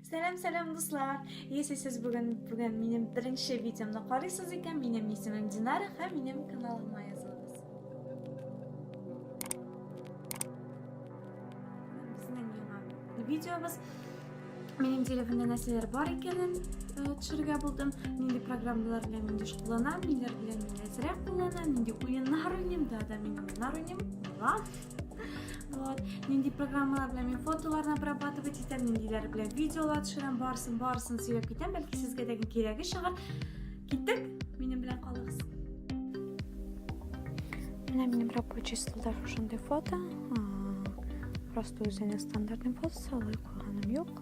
Сәлам, сәлам, дуслар! Если сез бүген бүген минем беренче видеомны карыйсыз икән, минем исемем Динара һәм минем каналыма язылыгыз. Безнең яңа видеобыз Минем телефонда нәрсәләр бар икәнен төшерергә булдым. Нинди программалар белән мин деш кулланам, ниләр белән мин әзрәк кулланам, нинди уеннар уйныйм, да да мин уеннар уйныйм. Була. Вот. Нинди программалар белән мин фотоларны обрабатывать итәм, ниндиләр белән видеолар төшерәм, барсын, барсын сөйләп китәм, бәлки сезгә дә кирәге чыгар. Киттек, минем белән калыгыз. Менә минем рабочий столда шушындый фото. Просто үзенең стандартный фотосы, алай куйганым юк.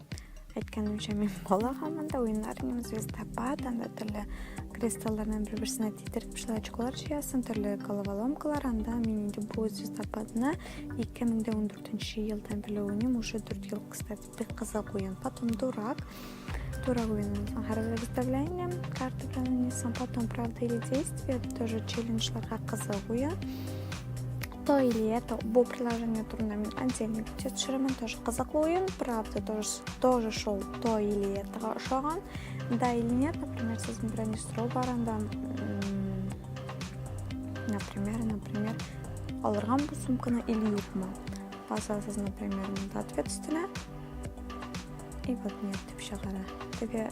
Әйткәнемчә, мин бала хамында уеннар уйныйм, звездопад, анда төрле кристаллардан бер-берсенә тидереп шулай очколар җыясың, төрле головоломкалар, анда мин инде бу звездопадны 2014 елдан беле уйныйм, уже 4 ел, кстати, бик кызык уен. Потом дурак, дурак уенын соң һәр представление, карта белән уйныйсың, потом правда или действие, тоже челленджларга кызык уен. То и лето. Бу приложение турнамент отдельный видео төшерәмен. Тоже кызыклы уен. Правда, тоже, тоже шел то и летога ошаган. Да или нет, например, сез беренче сорау бар анда. Например, например, алырган бу сумканы или юкмы? Басасыз, например, мында ответ өстенә. И вот нет, дип чыгара. Теге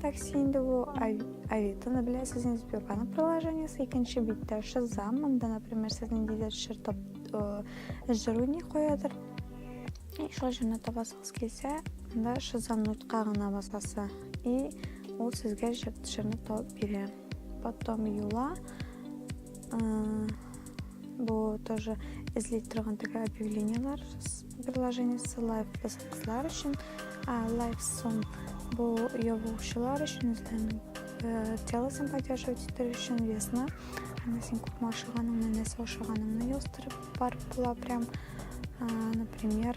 Такси инде бу Авитоны беләсез инде Сбербанк приложениесе икенче биттә Шазам монда, например, сез ниндидер җыр тап э, җыр уйный куядыр. И шул җырны табасыгыз килсә, монда Шазам нотка гына басасы. И ул сезгә җырны табып бирә. потом юла бу тоже эзли торган теге объявлениелар приложение ссылаю посылкалар өчен лайк сон бу ябучылар өчен эзләнү э, тело сен поддерживать итер өчен весна әмма син күпме ашаганыңны нәрсә ашаганыңны яздырып барып була прям например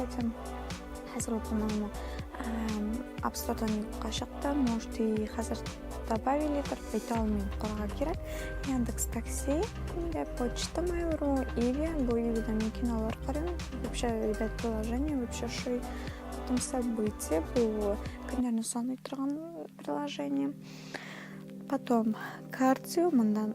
Этим хәзер укымаймы? Апстордан юкка чыкты, может и хәзер добавили торып әйтә алмыйм, карарга кирәк. Яндекс такси, инде почта Mail.ru, Иви, бу Ивида мин кинолар карыйм. Вообще, ребят, приложение вообще шуй. Потом события, бу көннәрне саный торган приложение. Потом кардио, мондан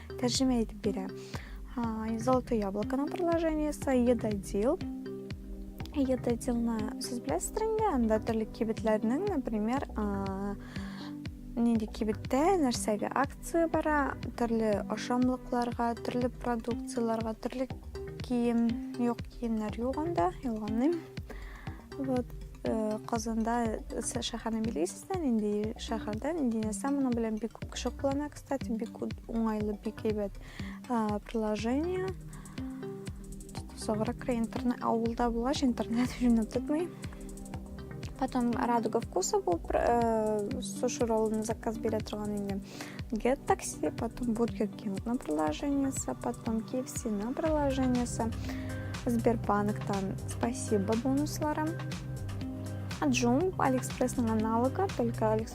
Тәрҗемә итеп бирә. Золотое яблоконың приложениесе Едодил. Едодилны сез беләсездер инде, анда төрле кибетләрнең, например, нинди кибеттә нәрсәгә акция бара, төрле ашамлыкларга, төрле продукцияләргә, төрле кием, юк киемнәр юк анда, ялганлыйм. Вот э, Казанда шәһәрне билгесездә, нинди шәһәрдә, нинди нәрсә моның белән бик күп кеше куллана, Кстати, бик уңайлы, бик әйбәт приложение. Соврак интернет, авылда булгач интернет җүнәп тотмый. Потом радуга вкуса был э, суши ролл на заказ били торган инде. Get такси, потом бургер кинг на приложение, потом KFC на приложение, Сбербанктан спасибо бонусларым. Джум, Алиэкспрессның аналогы, только Алиэкспресс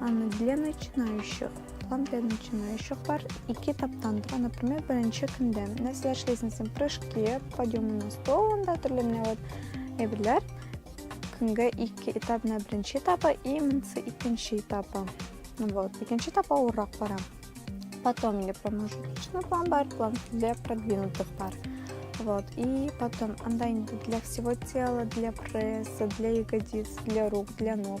Аны для начинающих. План для начинающих бар. Ике этаптан тора, например, беренче көндә. Нәрсә эшләйсең син? Прыжки, подъемы на стол, анда төрле менә вот әйберләр. Көнгә ике этап, менә беренче этапы и монысы икенче этапы. Ну вот, икенче этап авыррак бара. Потом или промежуточный план бар, план для продвинутых пар. Вот. И потом анда инде для всего тела, для пресса, для ягодиц, для рук, для ног.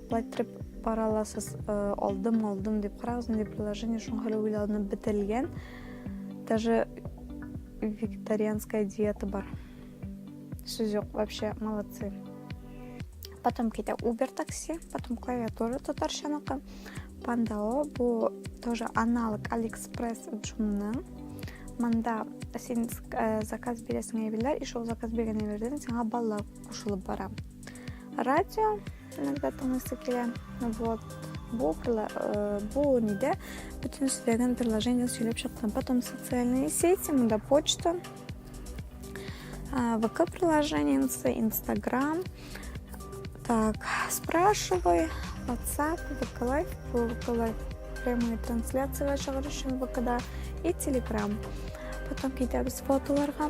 Лайттырып бара аласыз, э, алдым, алдым дип карагыз, инде приложение шуңа хәле уйланып бетелгән. Даже викторианская диета бар. Сүз юк, вообще молодцы. Потом китә Uber такси, потом клавиатура татарчаныкы. Пандао бу тоже аналог AliExpress Джумның. Манда син э, заказ бирәсең әйберләр, и шул заказ биргән әйбердән сиңа баллар кушылып бара. Радио иногда тыңлыйсы килә вот бу э, бу нидә бөтен сөйләгән приложение сөйләп чыктым потом социальные сети монда почта вк приложениесі инстаграм так спрашивай whatsapp вк лайф вк лайф прямые трансляциялар чыгару өчен вкда и телеграм потом китәбез фотоларга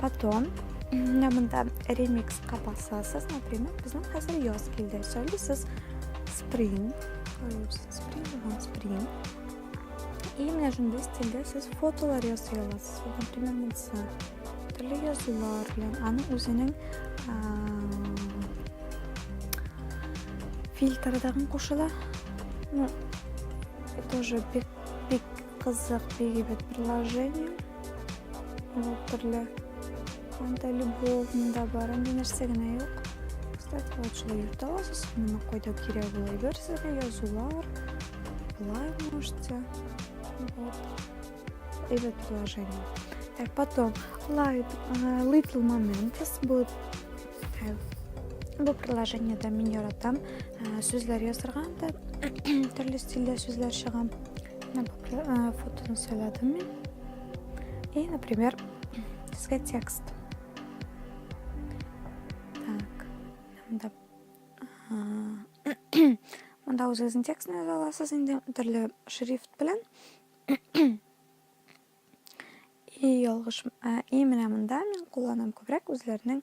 Потом менә монда ремикс капасасыз, например, безнең хәзер яз килде. Сөйлисез spring, spring, spring. И менә шундый стильдә сез фотолар ясый аласыз. Например, монсы төрле язулар белән аның үзенең фильтрдагын кушыла. Ну, тоже бик бик Кызык бигебет приложение. Ул төрле анда любовында бар, анда нәрсә генә юк. Кстати, вот шулай йөртә аласыз, моны кайда кирәк була әйберсезгә язулар. Болай можете. Вот. Әйбәт приложение. Так, потом Light, uh, Little Moments. Бу, э, бу приложениедә мин яратам. Э, сүзләр язырга анда төрле стильдә сүзләр чыга. Э, фотоны сайладым мин. И, например, диске текст. Так, мында мында үзегезнең текстны яза аласыз инде төрле шрифт белән. И ялгыш, и менә монда мин кулланам күбрәк үзләренең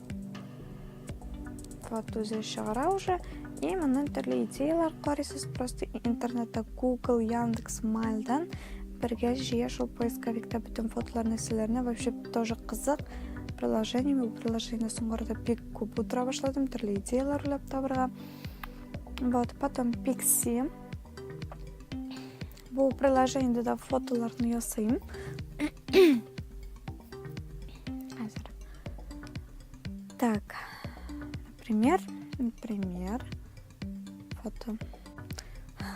Фат үзе чыгара уже. И моннан төрле идеялар карыйсыз. Просто интернетта Google, Яндекс, Мальдан бергә җыя шул поисковикта бөтен фотоларны силәрне вообще тоже кызык приложение бу приложение соңгырда бик күп утыра башладым төрле идеялар уйлап табырга вот потом пикси Бу приложениедә дә фотоларны ясыйм. Хәзер. Так. Например, например, фото.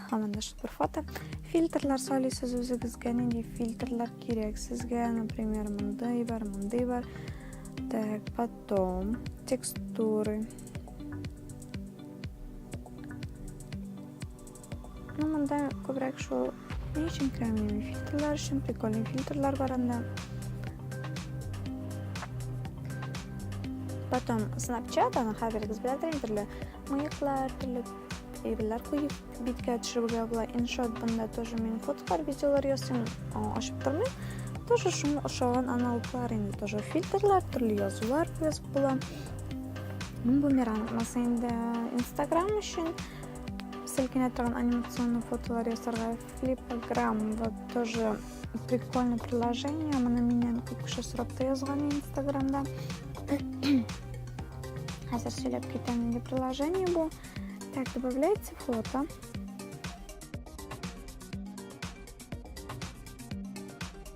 Һаманда шулпер фото. Фильтрлар салисыз үзегезгә, нинди фильтрлар кирәк сезгә, например, мондый бар, мондый бар. Так, потом текстуры. Ну, монда күбрәк шул ни өчен кремниевый фильтрлар өчен, прикольный фильтрлар бар анда. Потом Snapchat, аны хәзергез беләдер инде, мыеклар, төрле әйберләр куеп биткә төшерергә була. Иншот бында тоже мин фотолар, видеолар ясыйм, ашып тормый. Тоже шуңа ошаган аналоглар инде тоже фильтрлар, төрле язулар язып була. Бумеранг маса инде Instagram өчен Селкенә торган анимационный фотолар ясарга флипограмм вот тоже прикольное приложение. Моны миннән күп кеше сорап та язган инстаграмда. Хәзер сөйләп китәм инде приложение бу. Так, добавляется фото.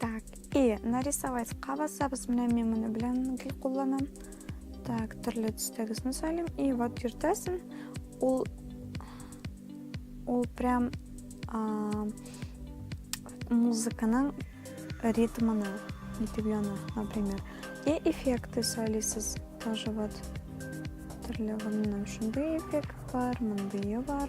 Так, и нарисовать кабасабыз менә мин моны белән гел кулланам. Так, төрле төстәге сүзне сөйлим. И вот йөртәсен. Ул ул прям а, музыканың ритмына итеп яна, например. И эффекты сөйлисез тоже вот. Төрле гомнәм шундый эффект бар, мондые бар.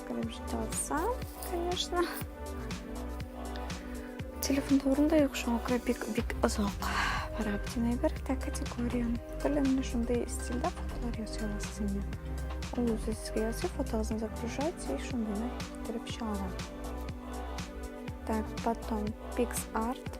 Крепштаться, конечно. Телефон турында юк шуңа күрә бик бик озак карап димәй бер тә категория. Белән менә шундый стильдә фотолар ясый аласыз инде. Ул үзе сезгә ясый, фотосын загружать и шундыйны китереп чыгара. Так, потом PixArt.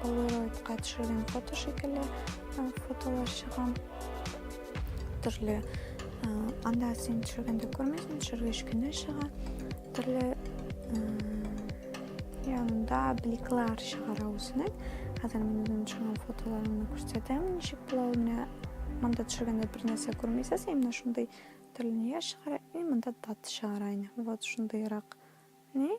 Полароидка төшергән фото шикелле фотолар чыга. Төрле анда син төшергәндә күрмәсен, төшергәч кенә чыга. Төрле янында бликлар чыгара үзенең. Хәзер мин үзем төшергән фотоларымны күрсәтәм, ничек була ул менә. Монда төшергәндә бер нәрсә күрмисез, именно шундый төрле нияр чыгара, и монда дат чыгара. Вот шундыйрак. Ни?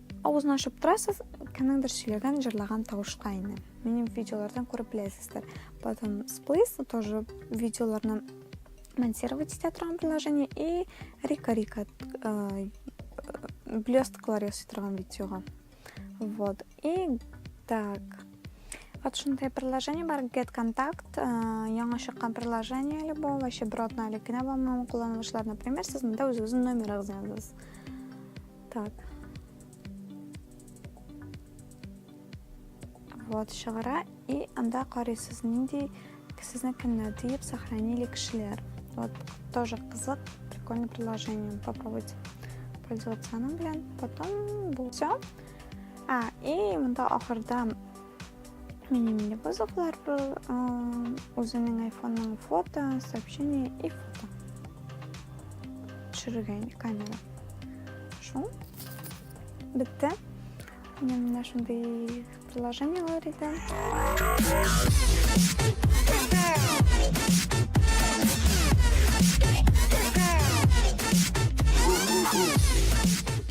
Авызны ачып торасыз, кемнеңдер сөйләгән, җырлаган тавышка инде. Минем видеолардан күреп беләсездер. Потом сплейс, тоже видеоларны монтировать итә торган приложение и рика рика э, блесткалар ясый торган видеога. Вот. И так. Вот шундай приложение бар, Get Contact, э, яңа чыккан приложение әле бу, вообще бер атна элек кенә булмаган кулланылышлар, например, сез монда үзегезнең номерыгызны язасыз. Так. Вот чыгара и анда карыйсыз нинди сезне кемнәр диеп сохранили кешеләр. Вот тоже кызык, прикольное приложение. Попробуйте пользоваться оно, блин. Потом все. А, и мында ахырда Мини мини бозыклар был үзенең айфонның фото, сообщение и фото. Төшерергә инде камера. Шул. Бетте. Менә менә шундый приложениеләр иде.